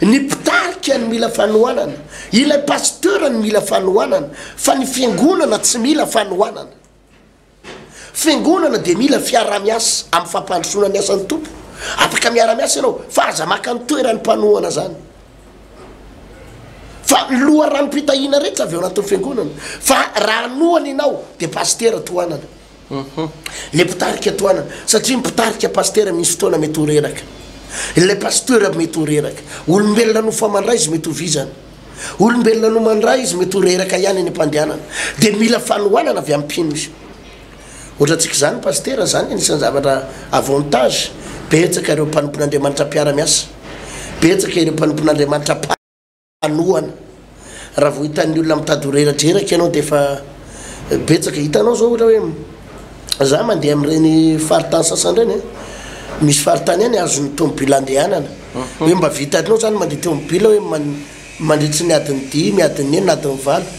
Ny mpitarika no mila fanohanana, ilay pasteur no mila fanohanana fa ny fiangonana tsy mila fanohanana. Fiangonana dia mila fiarahamiasa amin'ny fampandrosoana ny asan'ny Tompo. Afaka miara-miasa ianao fa aza maka ny toeran'ny mpanohana zany. Fa ny loharanom-pitahiana rehetra avy ao anatin'ny fiangonana fa raha hanohana ianao dia pasitera tohanana. Ilay mpitarika tohanana, satria ny mpitarika pasitera misy fotoana mety ho reraka. Ilay pasteur mety ho reraka. Olombelona no fa mandray izy mety ho vizana. Olombelona no mandray izy mety ho reraka ihany any am-pandehanana. Dia mila fanohanana avy amin'ny mpino izy. Ohatra antsika izany pasitera, izany anisan'ny zavatra avantage. Betsaka ireo mpanompon'Andriamanitra mpiara-miasa. Betsaka ireo mpanompon'Andriamanitra. hanohana raha vao hitan'ny olona mitady ho reradreraka ianao dia efa betsaka hitanao zao ohatra hoe za mandeha amin'ireny faritany sasany ireny eh. misy faritany any azon'ny tomobila andehanana mhm. hoe mba vitanao zany mandeha tomobila hoe mandritry ny adin'ny dimy adin'ny enina adin'ny valo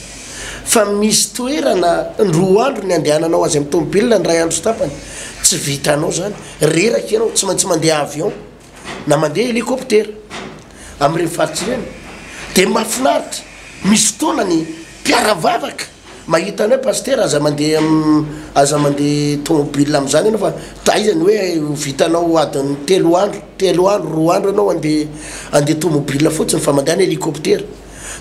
fa misy toerana roa andro ny andehananao azy amin'ny tomobila ny ray andro sy tapany tsy vitanao zany reraka ianao tsy maintsy mandeha avion na mandeha helikoptera amin'ireny faritra ireny dia mahafinaritra, misy fotoana ny mpiara-vavaka mahita anao hoe Pasitera aza mandeha aza mandeha tômôbila amin'izany ianao fa taiza ny hoe ho vitanao adin'ny telo andro, telo andro, roa andro ianao handeha handeha tômôbila fotsiny fa mandehana helikoptera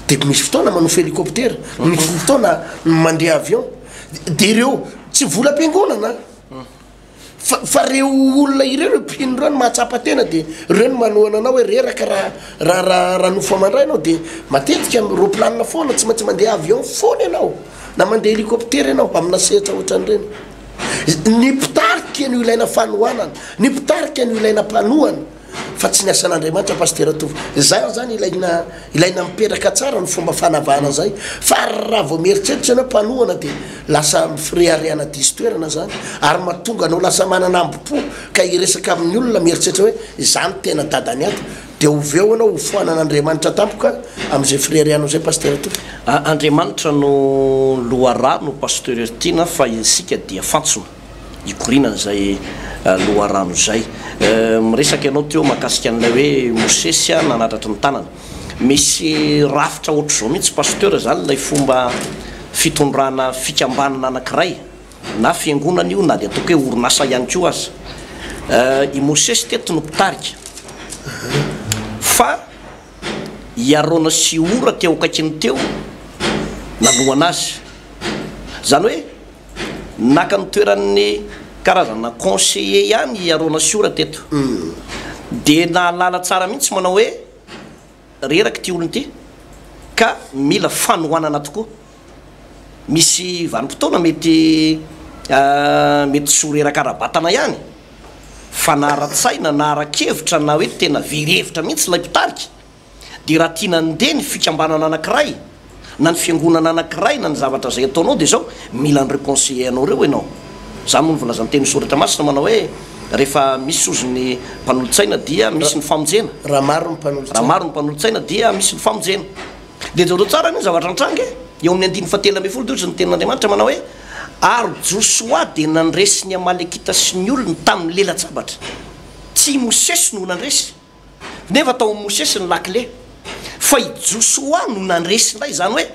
dia misy fotoana manofy helikoptera, misy fotoana mandeha avion dia ireo tsy volam-piangonana. fa fa reo olona ireo reo mpino ireo no mahatsapa tena de reo no manohana anao hoe reraka raha raha raha raha nofo amandray ianao de matetika am roplanina foana tsy maintsy mandeha avion foana ianao na mandeha helicoptera ianao amina sehatra ohatran'ireny ny mpitarika no ilaina fanohanana ny mpitarika no ilaina mpanohana fa tsy ny asan'Andriamanitra Pasitera Tovo. Izany izany ilaina, ilaina mipetraka tsara ny fomba fanavahana izay, fa raha vao mieritreritra ianao mpanohana dia lasa fireharehana diso toerana izany, ary mahatonga anao lasa manana ambo-po ka hiresaka amin'ny olona mieritreritra hoe izaho no tena dadan'ny ato, dia oveo ianao hofoanan'Andriamanitra tampoka amin'izay fireharehanao izay Pasitera Tovo. Andriamanitra no loharano Pasteur Tiana fa isika dia fantsona. hikorianan'izay loharano izay. Miresaka ianao teo mahakasika an'ilay hoe Mosesy nanatratry ny tanana. Misy rafitra ohatr'izao mihitsy Pasteur izany ilay fomba fitondrana fikambanana anankiray, na fiangonana io na dia ataoko hoe orinasa ihany koa aza. I Mosesy teto no mpitarika fa i Arona sy i Hora teo akaikiny teo nanohana azy. Izany hoe naka ny toeran'ny karazana conseiller ihany i Arona Siora teto. Dia nahalala tsara mihitsy manao hoe reraka ity olona ity ka mila fanohanana tokoa. Misy vanim-potoana mety mety tsy ho reraka ara-batana ihany fa na ara-tsaina na ara-kevitra na hoe tena very hevitra mihitsy ilay mpitarika. Dia raha tiana handeha ny fikambanana anankiray, na ny fiangonana anankiray, na ny zavatra izay ataonao, dia izao, mila an'ireo conseillers anao ireo ianao. Izany moa no voalazan'ny Tenin'ny Soratra Masina manao hoe, Rehefa misy sozy ny mpanolotsaina dia misy ny famonjena. Raha maro ny mpanolotsaina. Raha maro ny mpanolotsaina dia misy ny famonjena. Dia jereo tsara anie ny zavatra nitranga e! Eo amin'ny andininy fahatelo ambin'ny folo dia hoy ny Tenin'Andriamanitra manao hoe, Ary Josoa dia nandresy ny Amalekita sy ny olony tamin'ny lela-tsabatra. Tsy i Mosesy no nandresy. Nefa tao amin'i Mosesy ny lakile, fa i Josoa no nandresy indray. Izany hoe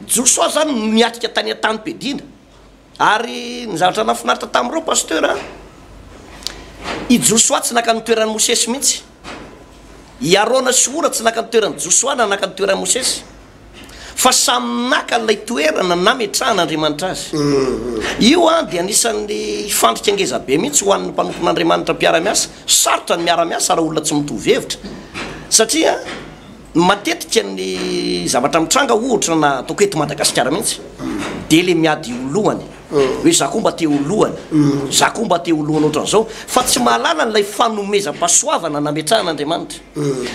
Josoa izany no niatrika tany an-tanim-piadiana. Ary ny zavatra nahafinaritra tamin'ireo Pasteur a, i Josoa tsy naka ny toeran'i Mosesy mihitsy. I Arona sy Hora tsy naka ny toeran'i Josoa na naka ny toeran'i Mosesy. fa samy naka ilay toerana nametrahan'Andriamanitra azy. Io dia anisan'ny fandrika ngeza be mihitsy ho an'ny mpanompon'Andriamanitra mpiara-miasa. Sarotra ny miara-miasa raha olona tsy mitovy hevitra, satria matetika ny zavatra mitranga, ohatra na ataoko eto Madagasikara mihitsy, dia ilay miady ho lohany. hoe za koa mba te ho lohany, za koa mba te ho lohany ohatran'izao, fa tsy mahalala an'ilay fanomezam-pahasoavana nametrahan'Andriamanitra.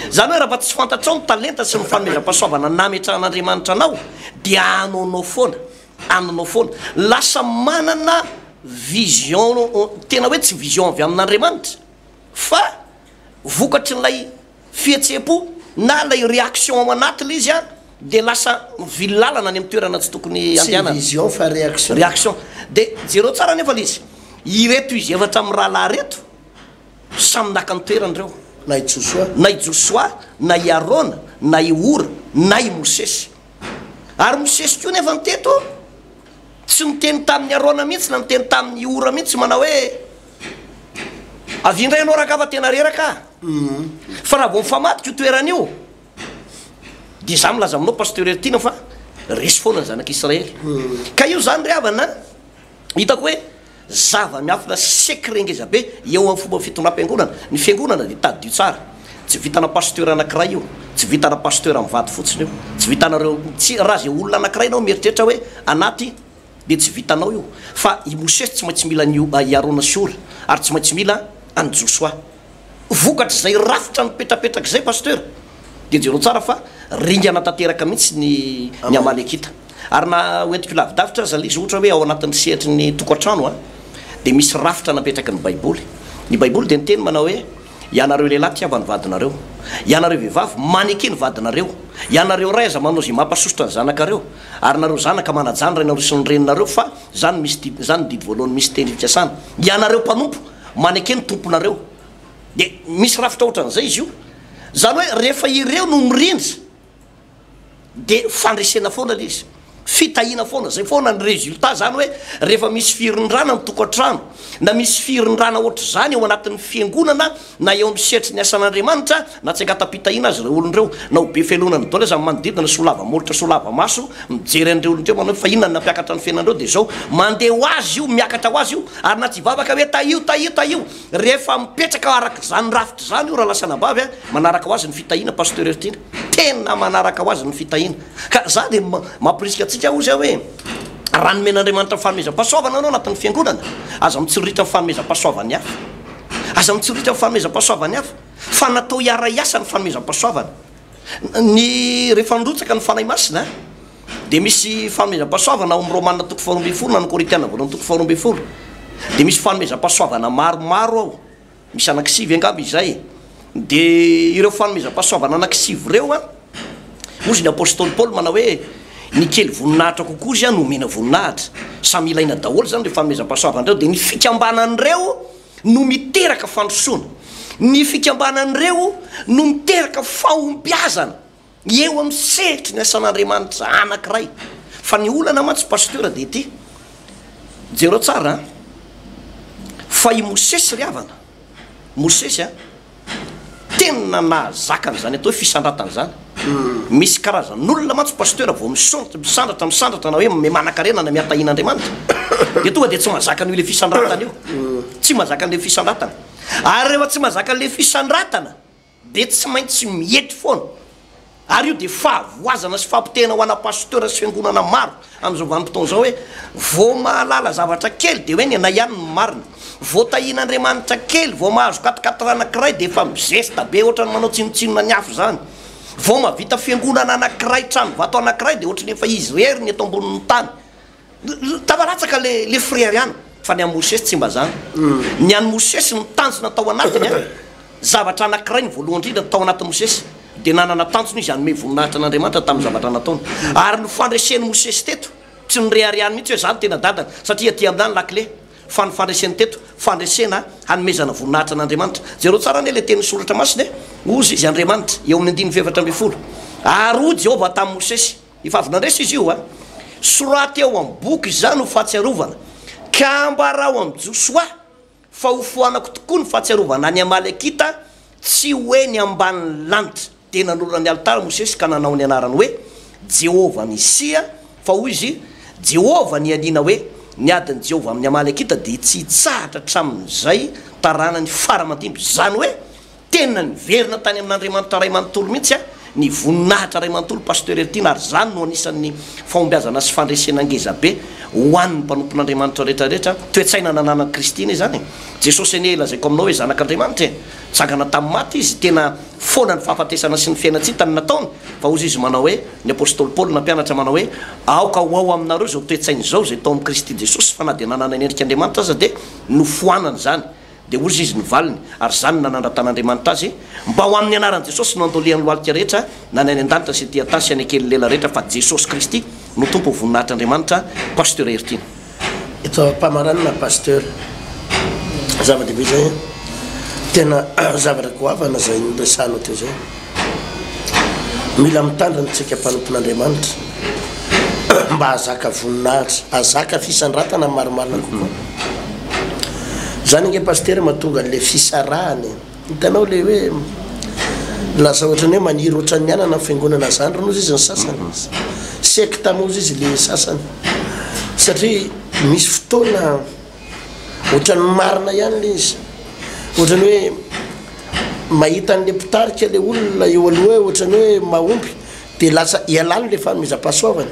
Izany hoe raha mba tsy fantatrao ny talenta sy ny fanomezam-pahasoavana nametrahan'Andriamanitra anao, dia anoanao foana, anonao foana. Lasa manana vision tena hoe tsy vision avy amin'Andriamanitra, fa vokatrin'ilay. fihetseham-po na ilay réaction ao anaty ilay izy dia lasa mivily lalana any amin'ny toerana tsy tokony handehanana. Tsy vision fa réaction. Réaction. Dia jereo tsara anefa ilay izy. Ireto izy efatra mirahalahy ireto samy naka ny toerany ireo. Na i Josoa. Na i Josoa, na i Arona, na i Hora, na i Mosesy. Ary Mosesy koa anefa teto tsy niteny tamin'i Arona mihitsy na niteny tamin'i Hora mihitsy manao hoe. Avia indray ianao rangahy fa tena reraka aho. Fa raha vao mifamadika io toerana io dia izaho milaza aminao Pasteur Heritiana fa resy foana ny zanak'i Israely. Ka io izany ry havana an, hitako hoe zava-miafina secret ngeza be eo amin'ny fomba fitondram-piangonana. Ny fiangonana dia tadidio tsara. Tsy vitana Pasteur anankiray io. Tsy vitana Pasteur mivady fotsiny io. Tsy vitanareo, tsy, raha izay olona anankiray ianao mieritreritra hoe anaty dia tsy vitanao io fa i Mosesy tsy maintsy mila an'io i Arona sy Hora ary tsy maintsy mila an'i Josoa. Vokatr'izay rafitra mipetrapetraka izay Pasteur dia jereo tsara fa ringana tanteraka mihitsy ny ny Amalekita. Ary na ho entiko lavidavitra aza le izy ohatra hoe ao anatin'ny sehatry ny tokantrano a dia misy rafitra napetraky ny baiboly. Ny baiboly dia niteny manao hoe ianareo lehilahy tiava ny vadinareo. Ianareo vehivavy maneke ny vadinareo. Ianareo ray aza manao izay mampasosotra ny zanakareo. Ary nareo zanaka manajan rainareo sy ny reninareo fa zany misy didy zany ny didy voalohany misy teny fikasana ianareo mpanompo maneke ny tomponareo de misy rafitra otran'izay izy io zany hoe rehefa ireo no mirindra de fandresena foana le izy fitahina foana zay foana ny resultat zany hoe rehefa misy firindrana ny tokantrano na misy firindrana ohatr'izany eo anatin'ny fiangonana na eo amin'ny sehatry ny asan'Andriamanitra Natsengatam-pitahiana azy ireo olona ireo. Na ho be felona ny dôla aza ny manodidina, solava molotra, solava maso, mijery an'ireo olona ireo, manao hoe fa inona no nampiakatra ny fiainanareo? Dia izao, mandeha ho azy io, miakatra ho azy io. Ary na tsy hivavaka hoe tahio, tahio, tahio, rehefa mipetraka araka izany rafitra izany io rahalahy sy anabavy a, manaraka ho azy ny fitahiana, Pasteur Hertiana. Tena manaraka ho azy ny fitahiana. Ka izaho dia mamporisika antsika hoy izaho hoe, raha nomen'Andriamanitra ny fanomezam-pahasoavana ianao anatin'ny fiangonana, aza mitsiriritra ny fanomezam-pahasoavan'ny hafa. Aza mitsiriritra ny fanomezam-pahasoavan'ny hafa. Fa natao hiara-hiasa ny fanomezam-pahasoavana. Ny rehefa nirotsaka ny Fanahy Masina dia misy fanomezam-pahasoavana ao amin'ny Romana toko faharoa ambin'ny folo na ny Korintiana voalohany toko faharoa ambin'ny folo dia misy fanomezam-pahasoavana maromaro ao, misy anankisivy angamba izay. Dia ireo fanomezam-pahasoavana anankisivy ireo an, hoy izy ny Apostoly Paoly manao hoe ny kely voninahitra kokoa izany omena voninahitra. Samy ilaina daholo izany ireo fanomezam-pahasoavana ireo. Dia ny fikambanan'ireo. no miteraka fandrosoana. Ny fikambanan'ireo no miteraka fahombiazana eo amin'ny sehatry ny asan'Andriamanitra anankiray. Fa ny olana mantsy Pasteur dia ity, jereo tsara an! fa i Mosesy ry havana, Mosesy an! Tena nahazaka an'izany atao hoe fisandratana izany. Misy karazan'olona mantsy Pasteur vao misaontra, misandratra, misandratra na hoe mimanakarena na mihatahina Andriamanitra dia tonga dia tsy mazaka an'io ilay fisandratana io. Tsy mazaka an'ilay fisandratana. Ary rehefa tsy mazaka an'ilay fisandratana dia tsy maintsy miety foana. Ary io dia fahavoazana sy fampitehana ho ana pasteur sy fiangonana maro amin'izao vanim-potoana izao hoe vao mahalala zavatra kely dia hoe ny anay ihany no marina. Vao tahian'Andriamanitra kely, vao mahazo quatriquatre anankiray dia efa mizesta be ohatran'ny manao tsinontsinona ny hafa izany. Vao mahavita fiangonana anankiray, tranovato anankiray dia ohatran'ny efa izy irery ny eto ambonin'ny tany. Tava latsaka le le frere an! Fa ny an'i Mosesy tsy mba zany. Ny an'i Mosesy ny tanjona tao anatiny an! Zavatra anankiray ny voalohany indrindra tao anatin'i Mosesy dia nanana tanjona izy hanome voninahitra an'Andriamanitra tamin'ny zavatra nataony. Ary ny fandresen'i Mosesy teto tsy noreharehany mihitsy hoe za no tena dadany satria aty aminà ny lakile. Fa ny fandreseny teto, fandresena hanomezana voninahitra an'Andriamanitra. Jereo tsara anie ilay tenin'ny Soratra Masina e! Hozy izy, Andriamanitra, eo amin'ny andininy fahefatra ambin'ny folo. Ary hoy Jehovah tamin'i Mosesy. Efa avy nandresy izy io a! Soraty ao amin'ny boky izany ho fahatsiarovana, ka ambarao amin'i Josoa fa hofoanako tokoa ny fahatsiarovana an'i Amalekita, tsy ho eny ambanin'ny lanitra. Dia nanorina ny alitara Mosesy ka nanao ny anarany hoe, Jehovah Nisia, fa hoy izy, Jehovah nianiana hoe, Ny adin'i Jehovah amin'ny Amalekita dia tsy hitsahatra hatramin'izay taranany fara aman-dimby, izany hoe Tena niverina tany amin'Andriamanitra Ray manontolo mihitsy ny voninahitra Ray manontolo Pasteur Eltine ary izany no anisan'ny fahombiazana sy fandresena ngezabe ho an'ny mpanompon'Andriamanitra rehetra rehetra toe-tsaina nananan'i Kristy anie izany e! Jesosy anie lazaiko aminao hoe zanak'Andriamanitra e! Nitsangana tamin'ny maty Izy, tena foana ny fahafatesana sy ny fiainan-tsita no nataony fa hozy Izy manao hoe ny Apostoly Paoly nampianatra manao hoe aoka ho ao aminareo izao toe-tsaina izao izay tao amin'i Kristy Jesosy fa na dia nanana ny endrik'Andriamanitra aza dia nofoanany izany Dia hozy izy ny valiny, ary izany no nanandratan'Andriamanitra azy, Mba ho amin'ny anaran'i Jesosy no andolian'ny lohalika rehetra, na ny any an-danitra sy ety an-tany sy any an-kelin'ny lela rehetra, fa Jesosy Kristy no Tompo ho voninahitr'Andriamanitra, Pasteur Heritiana. Eto am-pamaranana Pasteur, zava-dehibe izay an! Tena zavatra goavana izay noresahanao teo izay. Mila mitandrina tsika mpanompon'Andriamanitra mba hahazaka voninahitra, hahazaka fisandratana marimarina kokoa. Zany ange Pasitera mahatonga an'le fisarahana e. Hitanao le hoe lasa ohatran'ny hoe maniry ohatran'ny anana ny fiangonana zandriny hozy izy ny sasany. Sekta moa hozy izy le sasany. Satria misy fotoana. Ohatran'ny marina ihany le izy. Ohatran'ny hoe mahita an'le mpitarika le olona eo aloha hoe ohatran'ny hoe mahomby de lasa ialany le fanomezam-pahasoavana.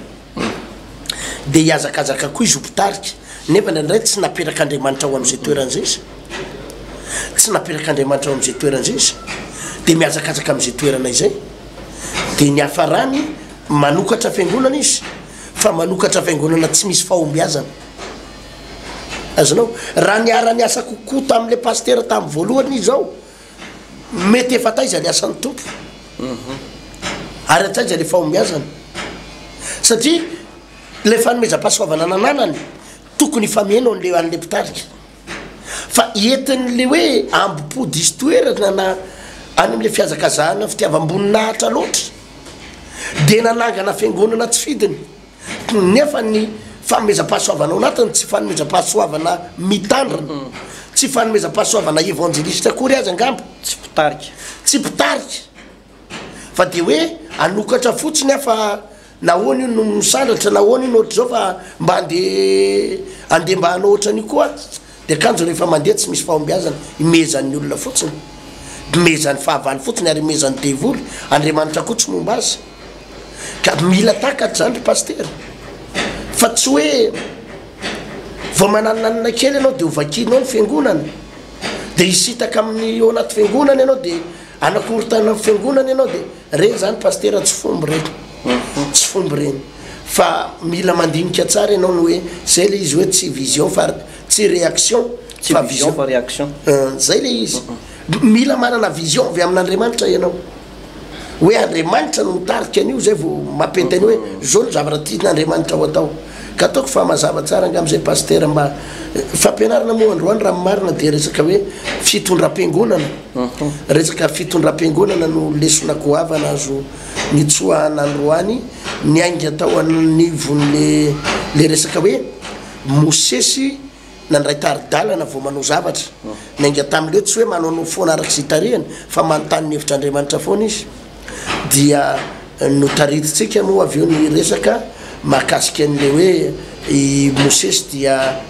De hihazakazaka koa izy ho mpitarika. Nefa ndraindray tsy naperak'Andriamanitra ho am'zay toerana zay izy. Tsy naperak'Andriamanitra ho am'zay toerana zay izy. De mihazakazaka am'zay toerana izay. De ny hiafarany, manokatra fiangonana izy, fa manokatra fiangonana tsy misy fahombiazana. Azonao? Raha niara-niasa kokoa tamin'ilay pasitera tamin'ny voalohany izy izao, mety efa taiza ny asan'ny Tompo, ary hatraiza ilay fahombiazany. Satria ilay fanomezam-pahasoavana nananany, tokony hifameno an'ilay an'ilay mpitarika. Fa entin'ilay hoe ambom-po diso toerana na any amin'ilay fihazakazahana fitiavam-boninahitra loatra, dia nanangana fiangonana tsy fidiny. Nefa ny fanomezam-pahasoavana ao anatiny tsy fanomezam-pahasoavana mitandrina. Tsy fanomezam-pahasoavana evanjelisitra akory aza angamba. Tsy mpitarika. Tsy mpitarika. Fa dia hoe hanokatra fotsiny aho fa nahoana io no misandratra, nahoana io no ohatr'izao fa mba andeha andeha mba hanao ohatran'io koa. Ny akanjo rehefa mandeha tsy misy fahombiazana, imehezan'ny olona fotsiny, imehezan'ny fahavalo fotsiny ary imehezan'ny devoly, Andriamanitra koa tsy momba azy. Ka mila takatra zany ry Pasitera, fa tsy hoe vao mananinanina kely ianao dia ho vakianao ny Fiangonana, dia hisitaka amin'ny ao anaty Fiangonana ianao dia hanakorontanana ny Fiangonana ianao dia, ireny zany Pasitera tsy fomba ireny, tsy fomba ireny. Fa mila mandinika tsara ianao ny hoe zay le izy hoe tsy vision fa tsy reaction fa vision fa reaction zay le izy mila manana vision avy amin'Andriamanitra ianao hoe Andriamanitra no mitarika an'io zay vao mampety an'io hoe zao ny zavatra tian'Andriamanitra ho atao ka ataoko fa mazava tsara angamba zay pasitera mba fampianarana moa androany raha marina dia resaka hoe fitondram-piangonana resaka fitondram-piangonana no lesona goavana azo nitsoahana androany niainga tao anivon'le le resaka hoe Mosesy nandray tari-dalana vao manao zavatra. Niainga tamin'le tsy hoe manaonao foana araka izay tarihany fa manontany ny hevitr'Andriamanitra foana izy. Dia notaritintsika moa avy eo ny resaka mahakasika an'le hoe i Mosesy dia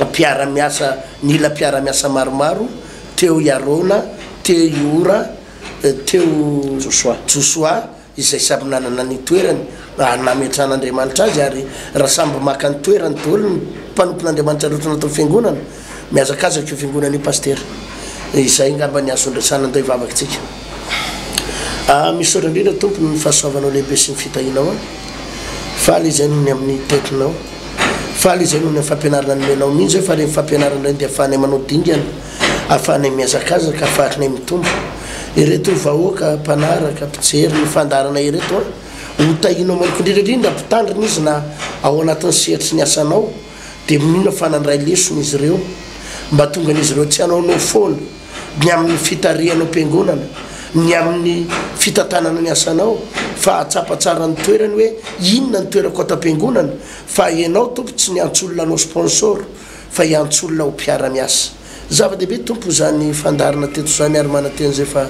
mpiara-miasa nila mpiara-miasa maromaro, teo i Arona, teo i Hora, teo Josoa, izay samy nanana ny toerany nametran'Andriamanitra azy, ary raha samby maka ny toerany daholo ny mpanompon'Andriamanitra rehetra anatin'ny fiangonana, mihazakazaka io fiangonana io Pasitera. Izay angamba ny azo andraisana an'ilay vavakintsika. Ah, misaotra indrindra Tompo ny fahasoavanao lehibe sy ny fitahianao ahy. Faly izay noho ny amin'ny tetinao. Faly izay noho ny fampianarana nomenao. Mino izay fa ireny fampianarana ireny dia ahafahanay manao dingana. Ahafahanay mihazakazaka, faritnay mitombo. Ireto vahoaka mpanaraka, mpijery ny fandaharana ireto an! Ho tahianao manokana indrindra indrindra mpitandrina izy na ao anatin'ny sehatry ny asanao dia minoana fa nandray lesona izy ireo mba tongan'izy ireo tsy hanaonao foana ny amin'ny fitarihanao am-piangonana, ny amin'ny fitantanana ny asanao fa hahatsapa tsara ny toerany hoe inona ny toerako ato am-piangonana fa ianao Tompo tsy niantsoolona anao sponsor. fa hiantso olona ho mpiara-miasa. Zava-dehibe Tompo izany fandaharana teto izany ary manantena izay fa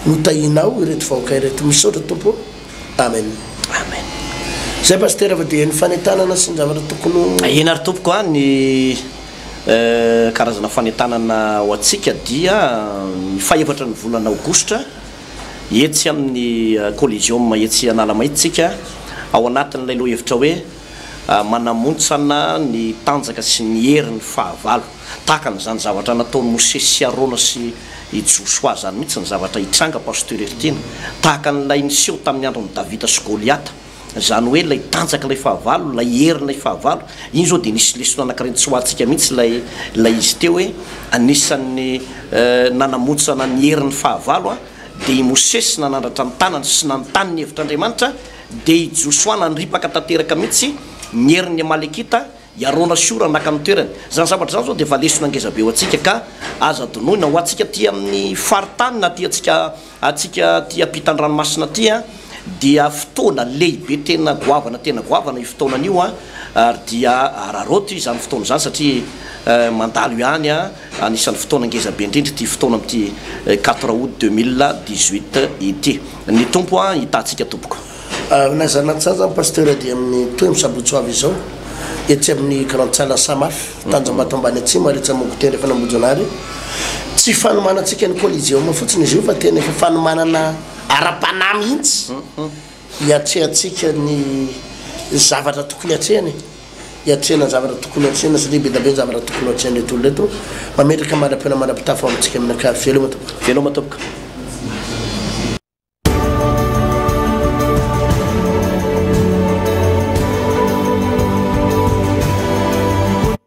notahianao ireto vahoaka ireto. Misaotra Tompo o. Amen. Amen. Zay Pasitera fa dia ny fanentanana sy ny zavatra tokony ho. Tahiana ary Tompoko a. Ny karazana fanentanana ho antsika dia ny fahefatra ny volana aogositra etsy amin'ny Coliseum etsy Analamaitso tsika ao anatin'ilay lohahevitra hoe. manamontsana ny tanjaka sy ny heriny fahavalo. Tahaka an'izany zavatra nataon'i Mosesy sy Arona sy i Josoa izany mihitsy ny zavatra hitranga, Pasteur Heritiana. Tahaka an'ilay niseho tamin'ny andron'i Davida sy Goliata. Izany hoe ilay tanjaka ilay fahavalo, ilay hery ilay fahavalo. Iny izao dia nisy lesona anankiray nitsoahantsika mihitsy ilay ilay izy teo hoe anisan'ny nanamontsana ny heriny fahavalo dia i Mosesy nanandratra ny tanany sy nanontany ny hevitr'Andriamanitra, Dia i Josoa nandripaka tanteraka mihitsy ny herin'ny Amalekita, i Arona sy Hora naka ny toerany. Izany zavatra izany izao dia efa lesona ngeza be ho antsika, ka aza adinoina. Ho antsika aty amin'ny faritany na aty antsika antsika aty ampitan-dranomasina aty dia fotoana lehibe tena goavana tena goavana io fotoanan'io, ary dia araraoty izany fotoana izany satria mandalo ihany. Anisan'ny fotoana ngeza be indrindra ity fotoana amin'ity quatre aout deux mille dix huit ity. Ny Tompo an hitahantsika tompoko. Aminay zanatsaza ny Pasteur dia amin'ny tohiny sabotsy ho avy izao etsy amin'ny grande salle Samaf, Tanjombato ambany atsimo ary etsy amin'ny Gouttière efa any Ambohijanahary. Tsy fanomanantsika ny Coliseum fotsiny izy io fa tena efa fanomanana ara-panahy mihitsy. Hiatrehantsika ny zavatra tokony hatrehina e! Hiatrehina ny zavatra tokony hatrehina satria be dia be ny zavatra tokony hatrehan'ireto olona ireto. Mametraka mandrapihaona mandrapitafa ho amintsika amin'ny ankavia. Veloma tompoko! Veloma tompoko!